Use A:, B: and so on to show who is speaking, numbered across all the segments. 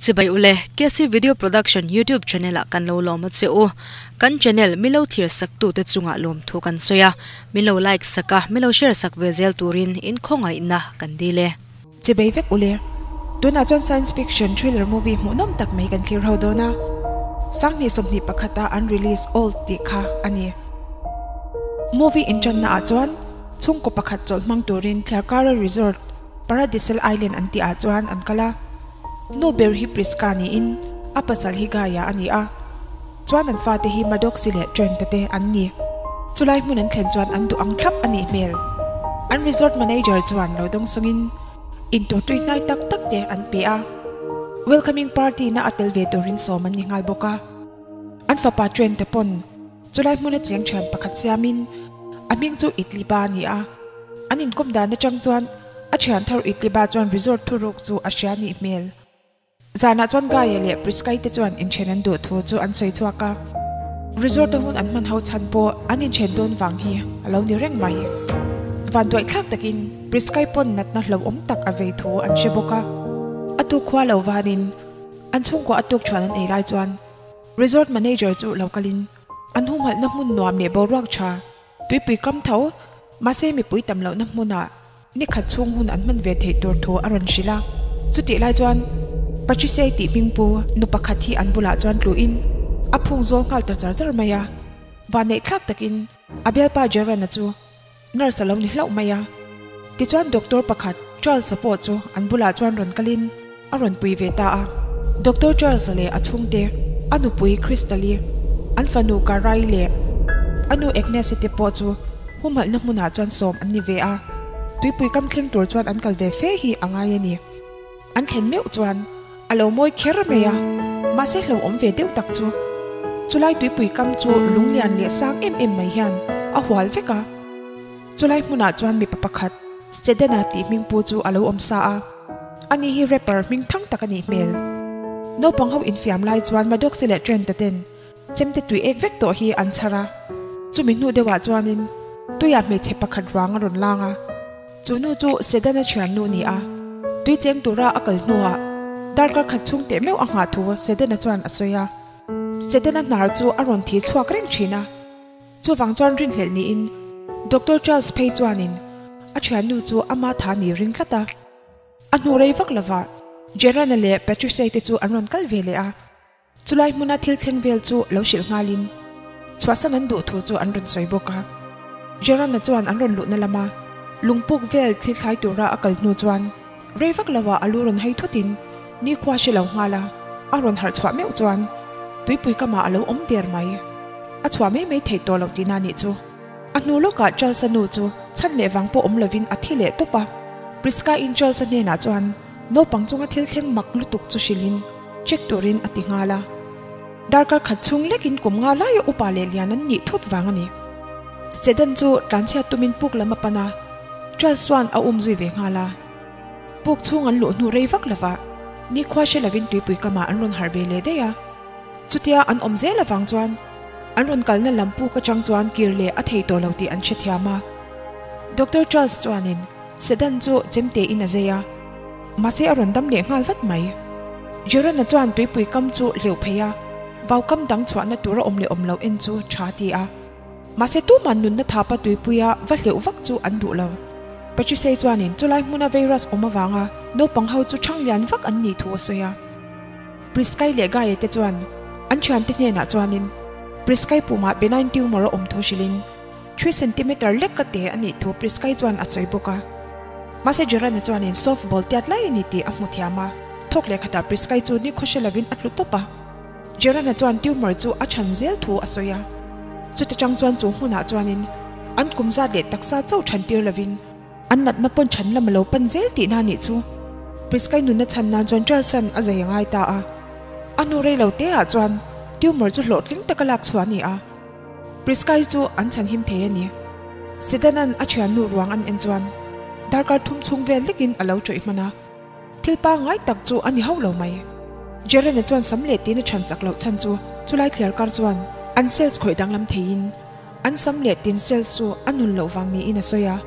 A: Chibai u le, KC Video Production YouTube channel a kan lo lawm a che u. Kan channel min lo thlir sak tu te chunga lawm thu kan sawi a, min lo like sak a, min lo share sak ve zel turin inkhawng a inna kan dil e. Che bei vek ule. Tunah chuan science fiction thriller movie hmuh nawm tak mai kan thlir ho dawn a. Sanghnih sawmhnih pakhata an release Old tih kha a ni. Movie inṭanna ah chuan chhungkaw pakhat chawlh hmang turin Thlarkara Resort, Paradisal Island an tih ah chuan an kal a. Nu ber hi Prisca niin a pasal hi Gaia a ni a. Chuan an fate hi Madoxi leh Trenta te an ni. Chulai hmun an thlen chuan an duh ang thlap a nih hmel. An resort manager chuan lo dawng sawng in intur tui hnai tak tak te an pe a. Welcoming party na a tel ve tur in sawm an ni nghal bawk a. An fapa Trenta pawn chulai hmun a cheng thian pakhat siam in a hming chu Itliba a ni a. An inkawm dan atang chuan a thian thar Itliba chuan resort thu ruk chu a hria a nih hmel. Zanah chuan Gaye leh Priscay te chuan inthen an duh thu chu an sawi chhuak a. Resort a hun an hman ho chhan pawh an inthen dawn vang hi a lo ni reng mai. Van duai thlak takin Priscay pawn natna hlauhawm tak a vei thu an hre bawk a. A tuk khua lo vanin an chhungkaw a tuk thuan an ei lai chuan Resort manager chu lo kalin an huhmalhna hmun nuam leh boruak tha tuipui kam tho mahse mipui tam lohna hmunah Ni khat chhung hun an hman ve theih tur thu a rawn hrilh a, chutih lai chuan Pachisei tih hming pu nu pakhat hi an bulah chuan tluin a phung zual nghal ta char char mai a, vanneih thlak takin a bialpa Gerana chu nurse a lo ni hlauh mai a, tichuan doctor pakhat Charles-a pawh chu an bulah chuan rawn kalin. A rawn pui ve ta a. Doctor Charles leh a chhungte, a nupui Christalie, an fanu Carraie leh a nu Agnes-i te pawh chu humalhna hmunah chuan sawm an ni ve a. Tuipui kam thleng tur chuan an kal ve fe hi a ngai a ni. An thlen meuh chuan a lo mawi kher mai a, mahse hlauhawm ve deuh tak chu. Chulai tuipui kam chu lunglian leh sang em em mai hian a hual vek a. Chulai hmunah chuan mipa pakhat, Stedena tih hmingpu chu a lo awm sa a. Ani hi rapper hming thang tak a nih hmel. Naupang ho infiam lai chuan Maddoxi leh Trent-a ten chemte tui ek vek tawh hi an chhar a, chumi hnu deuhah chuanin tuia hmeichhe pakhat ruang a rawn lang a, chu nu chu Sedan-a thiannu ni a, tui cheng tura a kal hnuah darkar khat chhung teh meuh a nghah thu Sedan-a chuan a sawi a, Sedan-a hnar chu a rawn thi chhuak reng thin a. Chuvang chuan rinhlelh niin Doctor Charles phei chuanin a thiannu chu a ma tha ni ring tlat a. A hnu rei vak lovah Gerana leh Patricia-i te chu an rawn kal ve leh a. Chulai hmuna thil thleng vel chu lo hrilh nghalin chhuahsan an duh tur chu an rawn sawi bawk a. Gerana chuan an rawn luhna lama lungpuk vel thil thlai tura a kal hnu chuan, Rei vak lo ah a lu rawn hei thut in nikhua a hre lo nghal a, a rawn harh chhuah meuh chuan tuipui kam ah a lo awm der mai. A chhuah mai mai theih tawh lo ti na nih chu. A hnu lawk ah Charles-a nu chu chhan leh vang pawh awm lo in a thi leh tawp a. Prisca in Charles-a hnen ah chuan naupang chunga thil thleng mak lutuk chu hrilh in check tur in a ti nghal a. Darkar khat chhung lekin kum nga laia upa leh lian an nih thut vang a ni. Stedham chu tlanchhiat tumin puk lam a pan a, Charles chuan a um zui ve nghal a. Puk chhung an luh hnu rei vak lovah nikhua hre lovin tuipui kamah an rawn harh ve leh daih a. Chutia an awm zel avang chuan an rawn kalna lam puk atang chuan kir leh a thei tawh lo tih an hrethiam a. Doctor Charles chuanin. Sedan chu chemte in a zai a, mahse a rawn dam leh nghal vat mai. Gerana chuan tuipui kam chu hleuh phei a, vaukam dang chhuahna tur a awm leh awm lo en chu tha ti a. Mahse tumah nunna thapa tuipuia va hleuh vak chu an duh lo. Patricia-i chuanin chulai hmuna virus awm avanga naupang ho chu chhang lian vak an nih thu a sawi a. Prisca-i leh Gaye te chuan an thiante hnenah chuanin Prisca-i pumah benign tumor a awm thu hrilhin Three centimeter lek ka ti a nih thu Prisca-i chuan a sawi bawk a. Mahse Gerald-a chuanin soft ball tiat lai a ni tih a hmu thiam a. Thawk lehkhatah Prisca-i chu nikhaw hre lovin a tlu tawp a. Gerald-a chuan tumor chu a chhan zel thu a sawi a. Chuti chang chuan chu hmunah chuanin an kum zat leh taksa chauh chhan tir lovin, an natna pawn chhan lama lo pan zel tih na nih chu Prisca-i nunna chhan nan chuan Charles-an a zai a ngai ta a. A hnu rei lo te ah chuan tumor chu hlawhtling taka lak chhuah a ni a. Prisca hi chu an chhan him thei a ni. Sidon-a'n a thiannu ruang an en chuan darkar thum chhung vel hlekin a lo chawih hman a, thil pangngai tak chu a ni hauh lo mai. Jeremy chuan sam leh tiin a chhan chak loh chhan chu chulai thliar kar chuan an sales khawih danglam theiin an sam leh tiin sales chu a nun loh vang niin a sawi a.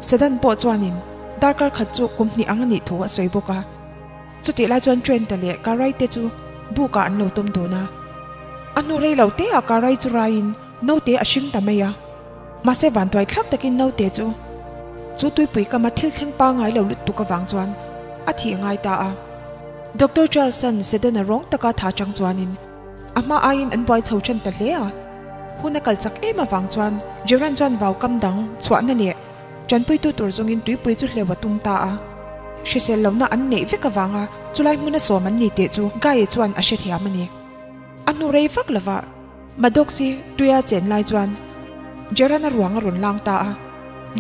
A: Sidon pawh chuanin darkar khat chu kum hnih ang a nih thu a sawi bawk a. Chutih lai chuan Train te leh Karai te chu buk ah an lo tawm dawn a. A hnu rei lo te ah Karai chu rai in Note a hring ta mai a. Mahse vantuai thlak tak in Note chu chu tuipui kam a thil thleng pangai lo lut tuk avang chuan a thih ngai ta a. Doctor Charlson Sedan a rawng taka tha chang chuan in a hma ai in an buai chho than ta hle a. Hun a kal chak em avang chuan Gerant chuan vau kam dang chhuah na leh Tanpuitu tur zawngin tuipui chu hleuh a tung ta a. Hrisel lohna an neih vek avanga chulai hmun a sawm an ni teh chu Guy-i chuan a hrethiam a ni. A hnu rei vak lova Maddoxi tui a chen lai chuan Gerana ruang a rawn lang ta a.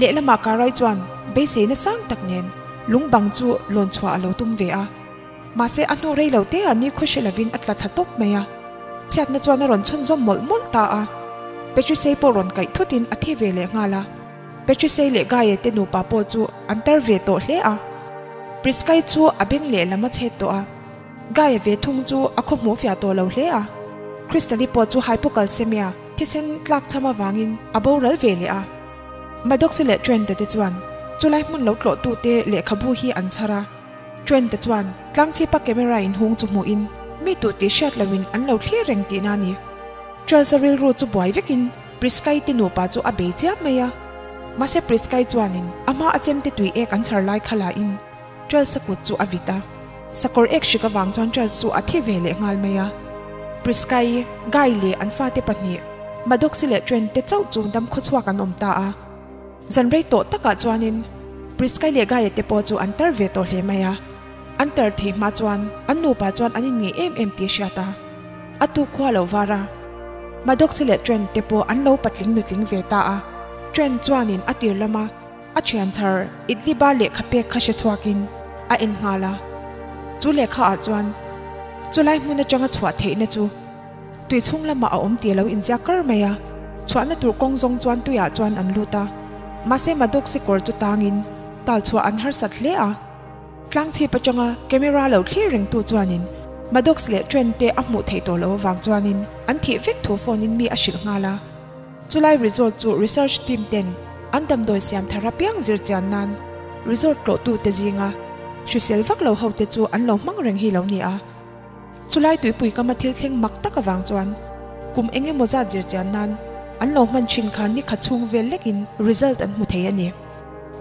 A: Lehlamah Kara-i chuan beiseina sang tak nen lungbang chu lawn chhuah a lo tum ve a. Mahse, a hnawh rei lo te ah nikhaw hre lovin a tla thla tawp mai a. Chhiatna chuan a rawn chhunzawm mawlh mawlh ta a. Patricia-i pawh rawn kaih thutin a thi ve leh nghal a. Patricia-i leh Gaye te nupa pawh chu an tar ve tawh hle a. Prisca-i chu a beng leh lam a chhet tawh a. Gaye ve thung chu a khaw hmuh fiah tawh lo hle a. Crystal-i pawh chu hypocalcemia, thisen tlak chham avangin a boral ve leh a. Maddox-i leh Trent-a te chuan chu lai hmun lo tlawhtu te lehkhabu hi an chhar a. Train te chuan tlangchhipa camera in hung chu hmuhin mi tu tih hriat loin an lo thlir reng tihna a ni. Trailsa rilru chu buai vekin Priscai te nupa chu a bei chiah mai a. Mahse Priscai chuanin a hma a chemte tui ek an chhar lai kha lahin Trailsa kut chu a vit a. Sakawr ek hrik avang chuan Trails chu a thi ve leh nghal mai a. Priscai, Guy leh an fate pahnih, Madoxi leh Train te chauh chu dam khaw chhuak an awm ta a. Zanrei tawh takah chuanin Priscai leh Gaia te pawh chu an tar ve tawh hle mai a, an tar thei hma chuan an nupa chuan an inngeih em em tih a hriat a, a tu khua lo var a. Maddox leh Trent te pawh an lo patling nutling ve ta a, Trent chuanin a tir lama a thian chhar Idli bar lehkha pek kha hre chhuakin a en nghal a, chu lehkha ah chuan chulai hmun atanga chhuah theihna chu Tui chhung lamah a awm tih a lo inziak kar mai a, chhuahna tur kawng zawng chuan tuiah chuan an lut a, mahse Madok sikawr chu tangin tal chhuah an harsat hle a. Tlangchhip atanga camera lo thlir rengtu chuanin Madoks leh Trent te a hmuh theih tawh loh avang chuanin an thih vek thu phone-in mi a hrilh nghal a. Chulai resort chu research team ten an damdawi siam thar apiang zir chian nan resort tlawhtute zinga hrisel vak lo hote chu an lo hmang reng hi lo ni a. Chulai tuipui kama thil thleng mak tak avang chuan kum eng emaw zat zir chian nan an lo hman thin khan ni khat chhung vel lekin result an hmu thei a ni.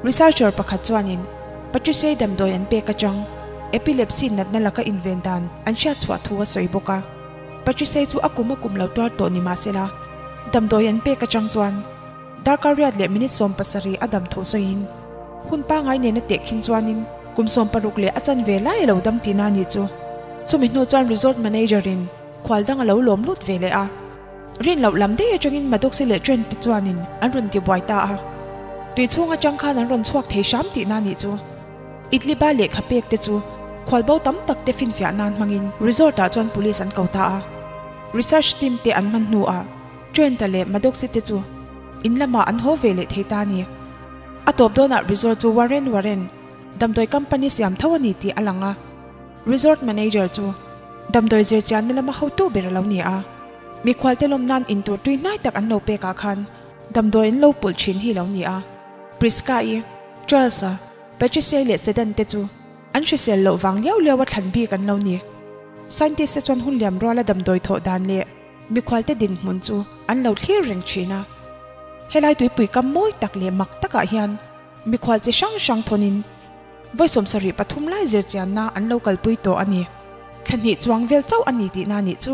A: Researcher pakhat chuanin Patricia-i damdawi an pek atang, epilepsy natna laka inven dan an hriatchhuah thu a sawi bawk a. Patricia-i chu a kum a kum lo tuar tawh ni mahsela, damdawi an pek atang chuan, Darkar riat leh minute sawm pasarih a dam thuh sawiin hun pangai nen a teh khin chuanin kum sawm paruk leh a chan ve lai a lo dam tih na ni chu. Chumi hnu chuan resort manager in khual dang a lo lawm lut ve leh a. Rin loh lam dei atangin Madoxi leh Trent te chuanin an rawn ti buai ta a. Tui chhung atang khan an rawn chhuak thei hram tih na ni chu. Idli bar leh kha pek te chu khual bo tam tak te finfiah nan hmangin resort ah chuan police an ko ta a. Research team te an man hnu ah Trent-a leh Madocsi-te chu in lamah an haw ve leh thei ta a ni. A tawp dawnah resort chu Warren Warren damdawi company siam tho a ni tih a lang a, resort manager chu damdawi zirchianna lama hotu ber a lo ni a, mikhualte lawm nan in tur tui hnai tak an lo pek ah khan damdawi an lo pulh thin hi lo ni a. Prisca-i, Charles-a, Patricia-i leh Sedan-te chu an hrisel loh vang liau liau a thlan bik an lo ni. Scientist-te chuan hun liam ruala damdawi thawh dan leh Mikhualte dinhmun chu an lo thlir reng thin a. Helai tuipui kam mawi tak leh mak takah hian mikhual chi hrang hrang thawnin vawi sawmsa rih pathum lai zirchianna an lo kalpui tawh a ni. Thla hnih chuang vel chauh a ni tihna nih chu.